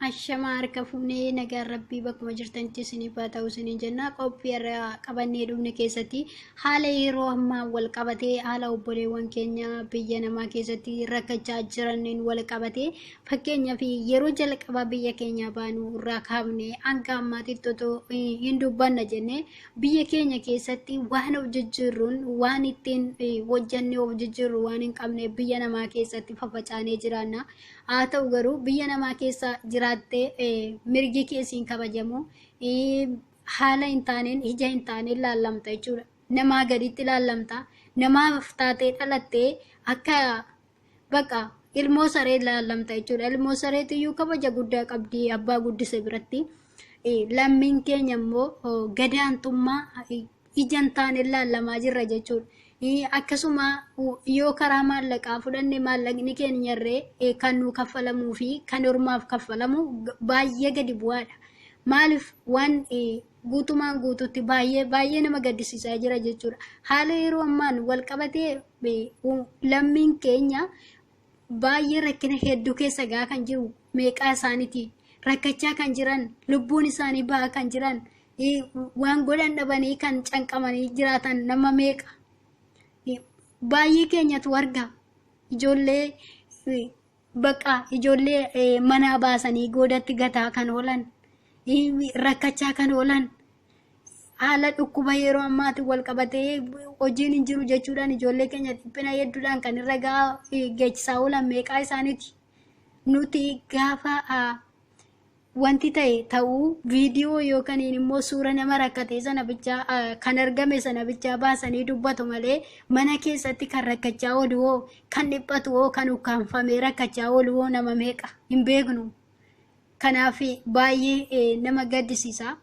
Ashamaa harka fuunee nagaan rabbii bakkuma jirtanitti isiniif haa ta'u isiniin jenna qophii irraa qabannee dhufne keessatti haala yeroo ammaa wal qabatee haala obboleewwan keenya biyya namaa keessatti rakkachaa jiraniin wal qabatee Fakkeenyaaf yeroo jalqabaa biyya keenyaa baanuu irraa kaafne hanga ammaatitti otoo hin dubbanna jennee biyya keenya keessatti waan of jijjiirruun waan ittiin hojjannee of jijjiirru waan hin qabne biyya namaa keessatti fafacaanee jiraanna. Haa ta'u garuu biyya namaa keessa jiraattee mirgi keessiin kabajamu haala hin taaneen ija hin taaneen laallamta jechuudha. Namaa gaditti laallamta. Namaaf taatee dhalattee akka Baqa ilmoo saree laallamta jechuudha. Ilmoo sareetu iyyuu kabaja guddaa qabdi abbaa guddise biratti. Lammiin keenya immoo gadaantummaa ijaan taaneen laallamaa jirra jechuudha. Akkasuma yoo karaa maallaqaa fudhanne maallaqni keenyarree kan nuu kaffalamuu fi kan hormaaf kaffalamu baay'ee gadi bu'aadha. Maaliif waan guutumaan guututti baay'ee baay'ee nama gaddisiisaa jira jechuudha. Haala yeroo ammaan wal qabatee lammiin keenya baay'ee rakkina hedduu keessa gaa kan jiru meeqaa isaaniiti rakkachaa kan jiran lubbuun isaanii ba'aa kan jiran waan godhan dhabanii kan canqamanii jiraatan nama meeqa baay'ee keenyatu arga ijoollee Baqa ijoollee eh, manaa baasanii goodatti gataa kan oolan, eh, rakkachaa kan oolan, haala dhukkuba yeroo ammaatiin wal qabatee hojiin hin jiru jechuudhaan ijoollee keenya dhiphina hedduudhaan kan irra gahaa eh, geechisaa oolan meeqaa isaaniiti. Nuti gaafa ah, Wanti ta'e ta'uu viidiyoo yookaniin immoo suura nama rakkatee sana bichaa kan argame sana bichaa baasanii dubbatu malee mana keessatti kan rakkachaa oolu hoo kan dhiphatu hoo kan ukkaanfamee rakkachaa oolu hoo nama meeqa hin beeknu. Kanaaf baay'ee nama gaddisiisa.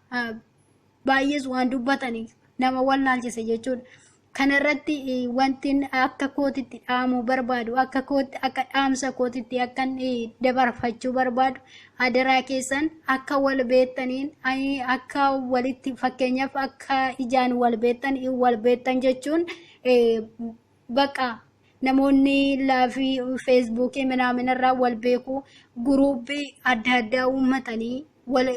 baay'ees waan dubbataniif nama wallaalchise jechuudha. Kana irratti eh, wanti inni akka kootitti dhaamuu barbaadu, akka kootti, akka dhaamsa kootitti akka inni dabarfachuu barbaadu, adaraa keessan akka wal beektaniin, ai- akka walitti fakkeenyaaf akka ijaan wal beektan, wal beektan jechuun eh, Baqa namoonni laafii feesbuukii minaaminarraa wal beeku guruubii adda addaa uummatanii wal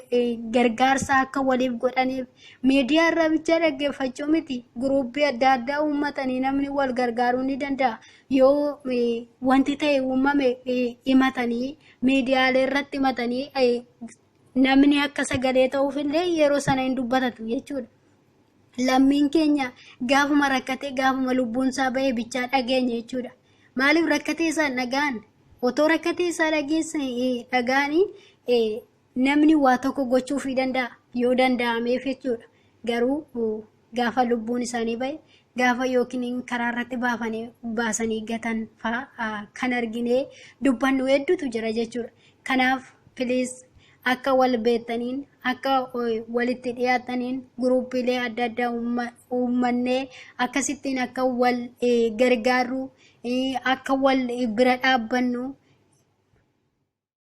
gargaarsa akka waliif godhaniif miidiyaa irraa bichaa dhaggeeffachuu miti guruubii adda addaa uummatanii namni wal gargaaruu ni danda'a yoo wanti ta'e uumame himatanii miidiyaalee irratti himatanii namni akka sagalee ta'uuf illee yeroo sana hin dubbatatu jechuudha. lammiin keenya gaafuma rakkatee gaafuma lubbuun isaa ba'e bichaa dhageenya jechuudha. Maaliif rakkatee isaa dhagaan otoo rakkatee isaa dhageessan dhagaanii namni waa tokko gochuuf ni danda'a yoo danda'ameef jechuudha. Garuu gaafa lubbuun isaanii ba'e gaafa yookiin karaa irratti baafanii baasanii gatan fa'aa kan arginee dubbannu hedduutu jira jechuudha. Kanaaf piliis akka wal beektaniin akka walitti dhiyaattaniin guruupiilee adda addaa uummannee akkasittiin akka wal gargaarru akka wal bira dhaabbannu